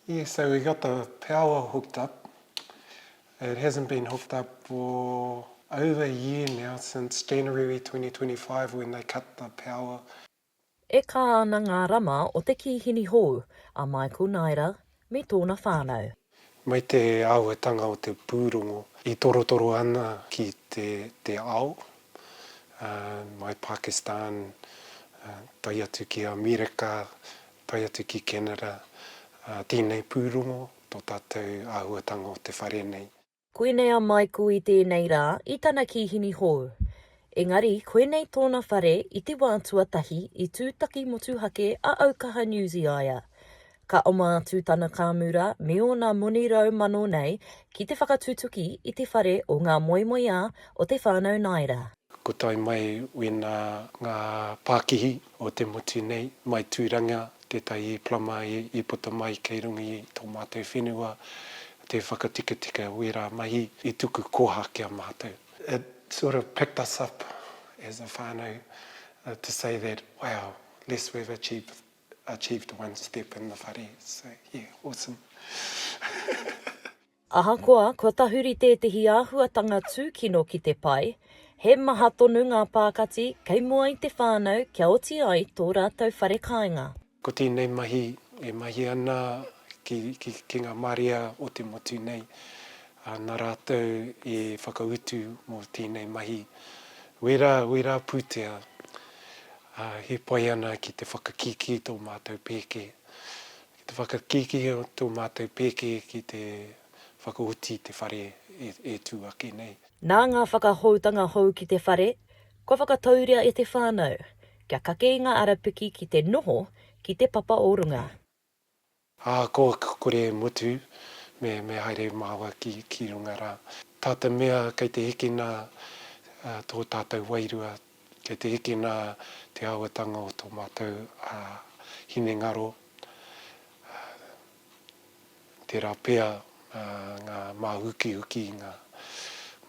Yeah, so we got the power hooked up. It hasn't been hooked up for over a year now, since January 2025 when they cut the power. E kā ana ngā rama o te kīhini hou, a Michael Naera, me tōna whānau. Mai te āhuatanga o te pūrongo i torotoro ana ki te te ao, mai Pakistan, tae atu ki Amerika, tae atu ki Canada, ā, tēnei pūrongo, tō tātou āhuatanga o te whare nei. Koinei a Michael i tēnei rā i tana kīhini hou. Engari, koinei tōna whare i te wā tuatahi i tūtaki motuhake a Aukaha New Zeaia. Ka oma atu tana kāmura me ōna moni rau mano nei ki te whakatutuki i te whare o ngā moemoeā o te whānau Naira. Ko tae mai wēnā ngā pākihi o te motu nei, mai Tūranga, tētahi plama i puta mai kei runga i tō mātou whenua, tē whakatikatika wērā mahi i tuku koha ki a mātou. It sort of picked us up as a whānau to say that, wow, less we've achieved achieved one step in the whare, so yeah, awesome. Ahakoa kua tahuri tētehi āhuatanga tūkino ki te pae, he maha tonu ngā pākati kei mua i te whānau kia oti ai tō rātou whare kāinga. Ko tēnei mahi e mahi ana ki, ki, ki ngā marea o te motu nei, ā, nā rātou e whakautu mō tēnei mahi. Wērā, wērā pūtea, ā, he pai ana ki te whakakīkī tō mātou pēke Te whakakīkī o tō mātou pēke ki te whakaoti i te whare e tū ake nei. Nā ngā whakahoutanga hou ki te whare, kua whakatauria e te whānau, kia kake i ngā arapiki ki te noho ki te papa o runga. Ā, kua kore e mutu, me, me haere māua ki, ki runga rā. Tāta mea kei te hikina tō tātou wairua Kei te hikina te āhuatanga o tō mātou hinengaro, tērā pea ngā māhukihuki, ngā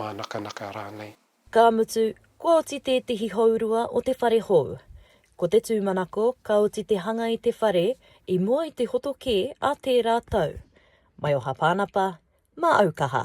mānakanaka rānei. Ka mutu, kua oti tētehi hourua o te whare hou. Ko te tūmanako, ka oti te hanga i te whare i mua i te hoto kē a tērā tau. Maioha Pānapa, Māaukaha.